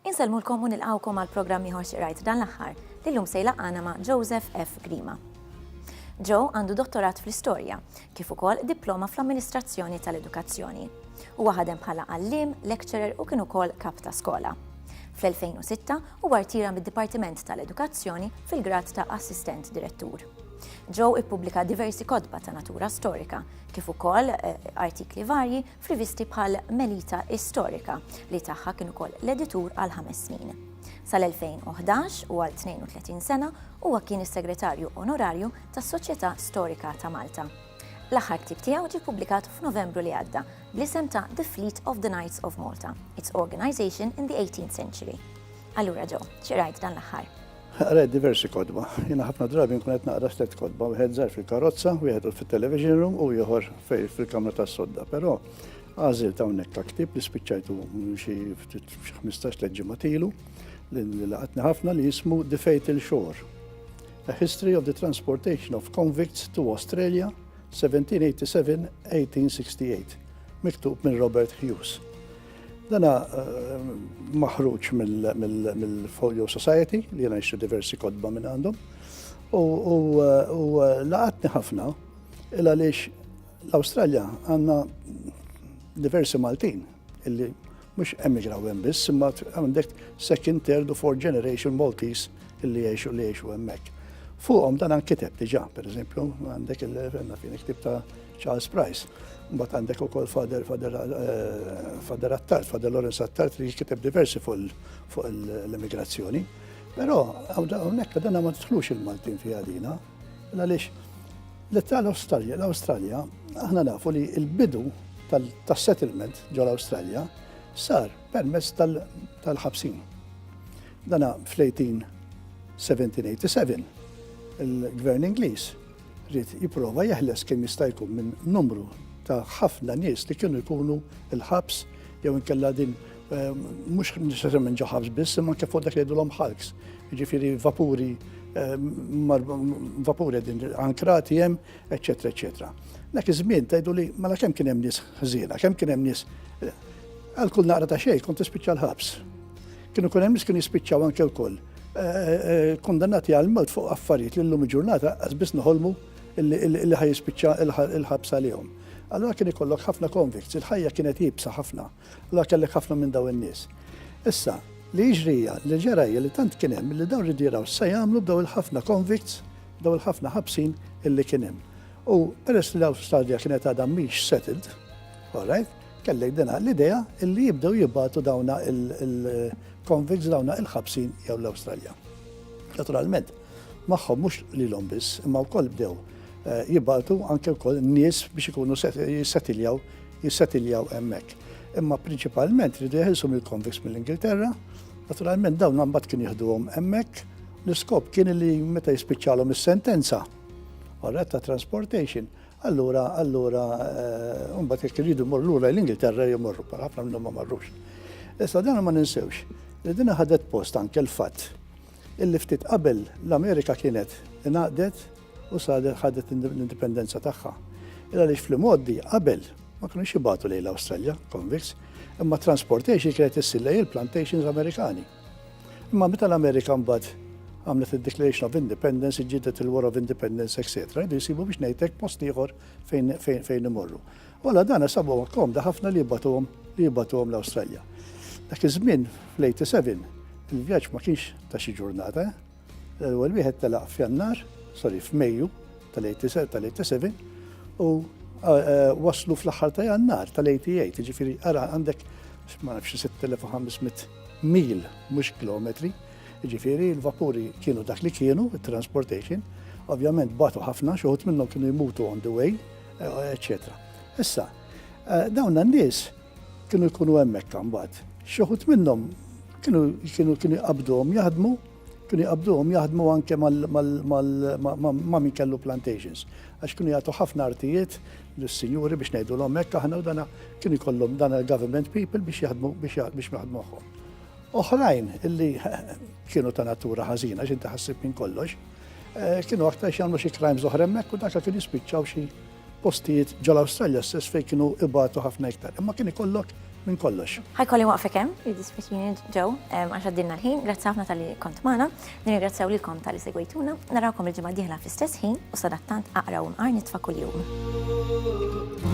Insellmulkom u nilqawkom għal programm ieħor xirajt dan l-aħħar li llum se jlaqgħana ma' Joseph F. Grima. Joe għandu dottorat fl-istorja, kif ukoll diploma fl-amministrazzjoni tal-edukazzjoni. Huwa ħadem bħala għalliem, lecturer u kien ukoll kap ta' skola. Fl-2006 huwa rtira mid-Dipartiment tal-Edukazzjoni fil-grad ta' Assistent Direttur. Joe ippubblika diversi kotba ta' natura storika, kif ukoll eh, artikli varji f'rivisti bħal Melita Istorika li tagħha kien ukoll l-editur għal ħames snin. Sal-2011 u għal 32 sena huwa kien is-Segretarju Onorarju tas-Soċjetà Storika ta' Malta. L-aħħar ktieb tiegħu ġie ppubblikat f'Novembru li għadda bl-isem ta' The Fleet of the Knights of Malta, its organization in the 18th century. Allura ġo, xi rajt dan l-aħħar? Qrajt diversi kodba. Jiena ħafna drabi nkun qed naqra stet kodba, wieħed żgħar fil-karozza, wieħed fit-television room u ieħor fil-kamra tas-sodda. Però għażil ta' hawnhekk ktib li spiċċajtu xi 15 leġġimgħa tilu li laqatni ħafna li jismu The Fatal Shore. A History of the Transportation of Convicts to Australia 1787-1868, miktub minn Robert Hughes. Dana eh, maħruġ mill-Folio Society li jena jxu diversi kodba minn għandhom u eh, eh, laqatni ħafna il għaliex l-Awstralja għanna diversi Maltin Illi mhux hemm iġraw hemm biss, imma għandek second, third u fourth generation Maltis illi jgħixu li jgħixu hemmhekk. Fuqhom dan nkiteb diġà, pereżempju, għandek il-ktib ta' Charles Price. Mbagħad għandek ukoll Fader Fader eh, Attard, Fader Lawrence Attard li kiteb diversi fuq l-immigrazzjoni. Però hawnhekk dan ma tħlux il-Maltin fiha dina. Għaliex l-Italo Awstralja, l-Awstralja, aħna nafu li l-bidu tas-settlement ġol awstralja sar permezz tal-ħabsin. Dana fl-1887 il-gvern Ingliż rrit jiprofa jeħles kemm jista' jkun minn numru ta' ħafna nies li kienu jkunu il-ħabs jew inkella din Mhux neċessarjament ġo ħabs biss, imma anke fuq dak li jgħidulhom ħalks, jiġifieri vapuri vapuri din ankrati hemm, eċetera, eċetera. Dak iż-żmien tgħidu li mela kemm kien hemm nies ħżiena, kemm kien hemm nies għal kull naqra ta' xejn kont tispiċċa l-ħabs. Kienu kun hemm nies kienu jispiċċaw anke wkoll eh, eh, kondannati għal mod fuq affarijiet li llum ġurnata qas biss noħolmu li ħaj jispiċċa l-ħabs għalihom. Allora kien ikollok ħafna konvikt, il-ħajja kienet jibsa ħafna. Allura kellek ħafna minn dawn in-nies. Issa, li jiġri hija, li ġara hija li tant kien hemm li dawn ridu jaraw x'se jagħmlu b'daw il-ħafna convicts, b'daw il-ħafna ħabsin illi kien hemm. U peress li l-Awstralja kienet għadha mhix settled, all right, kellek dina l-idea illi jibdew jibgħatu dawna il-convicts dawna il-ħabsin jew l-Awstralja. Naturalment, magħhom mhux lilhom biss, imma wkoll bdew eh, jibgħatu anke wkoll nies biex ikunu jissettiljaw jissetiljaw hemmhekk. Imma prinċipalment ridu jeħilsu mill-konviks mill-Ingilterra, naturalment dawn mbagħad kien jieħduhom hemmhekk. L-iskop kien li meta jispiċċalhom is-sentenza, orret ta' transportation, allura allura eh, mbagħad jekk iridu mor lura l-Ingilterra jmorru, ħafna minnhom ma marrux. Issa dan ma ninsewx, li din ħadet post anke l-fatt illi ftit qabel l-Amerika kienet ingħaqdet u sa li ħadet l-indipendenza tagħha. Illa għaliex fl-imgħoddi qabel ma kienux jibgħatu lejn l-Awstralja, convicts, imma transportation kienet issir lejn il-plantations Amerikani. Imma meta l-Amerika mbagħad għamlet il-Declaration of Independence, ġidet il-War of Independence, etc. Idu jisibu biex nejtek post ieħor fejn imorru. Wala dan sabu komda ħafna li jibbatuhom li jibbatuhom l-Awstralja. Dak iż-żmien fl-87 il-vjaġġ ma kienx ta' xi ġurnata, eh? L-ewwel wieħed telaq f'Jannar, sorry, f'Mejju tal-87 u waslu fl-aħħar ta' Jannar tal-88, ġifieri ara għandek ma nafx 6500 mil mhux kilometri, ġifieri l-vapuri kienu dak li kienu, transportation, ovvjament batu ħafna, xoħut minnhom kienu jmutu on the way, eccetera. Issa, eh, dawn n-nies Kienu jkunu hemmhekk imbagħad. Xi wħud minnhom kienu kienu kienu jqabduhom jaħdmu, kienu jqabduhom jaħdmu anke ma' min kellu plantations. Għax kienu jagħtu ħafna artijiet lis-sinjuri biex ngħidulhom hekk aħna u dana kienu jkollhom dana l-government people biex jaħdmu biex jaħdmu magħhom. Oħrajn illi kienu ta' natura ħażina x'inti ħassib minn kollox, eh, kienu aktar x'jagħmlu xi crimes oħra hemmhekk u dak kien jispiċċaw xi Postijiet ġol-Awstralja stess fejn kienu ibatu ħafna iktar, imma kien ikollok minn kollox. Ħa jkolli nwaqfek hemm, jiddispjaċini Joe, għax għaddilna l-ħin, grazzi ħafna talli kont magħna, nirringrazzjaw lilkom talli segwejtuna, narawkom il-ġimgħa d-dieħla fl-istess ħin u sadattant aqra u nqar nitfa' kuljum.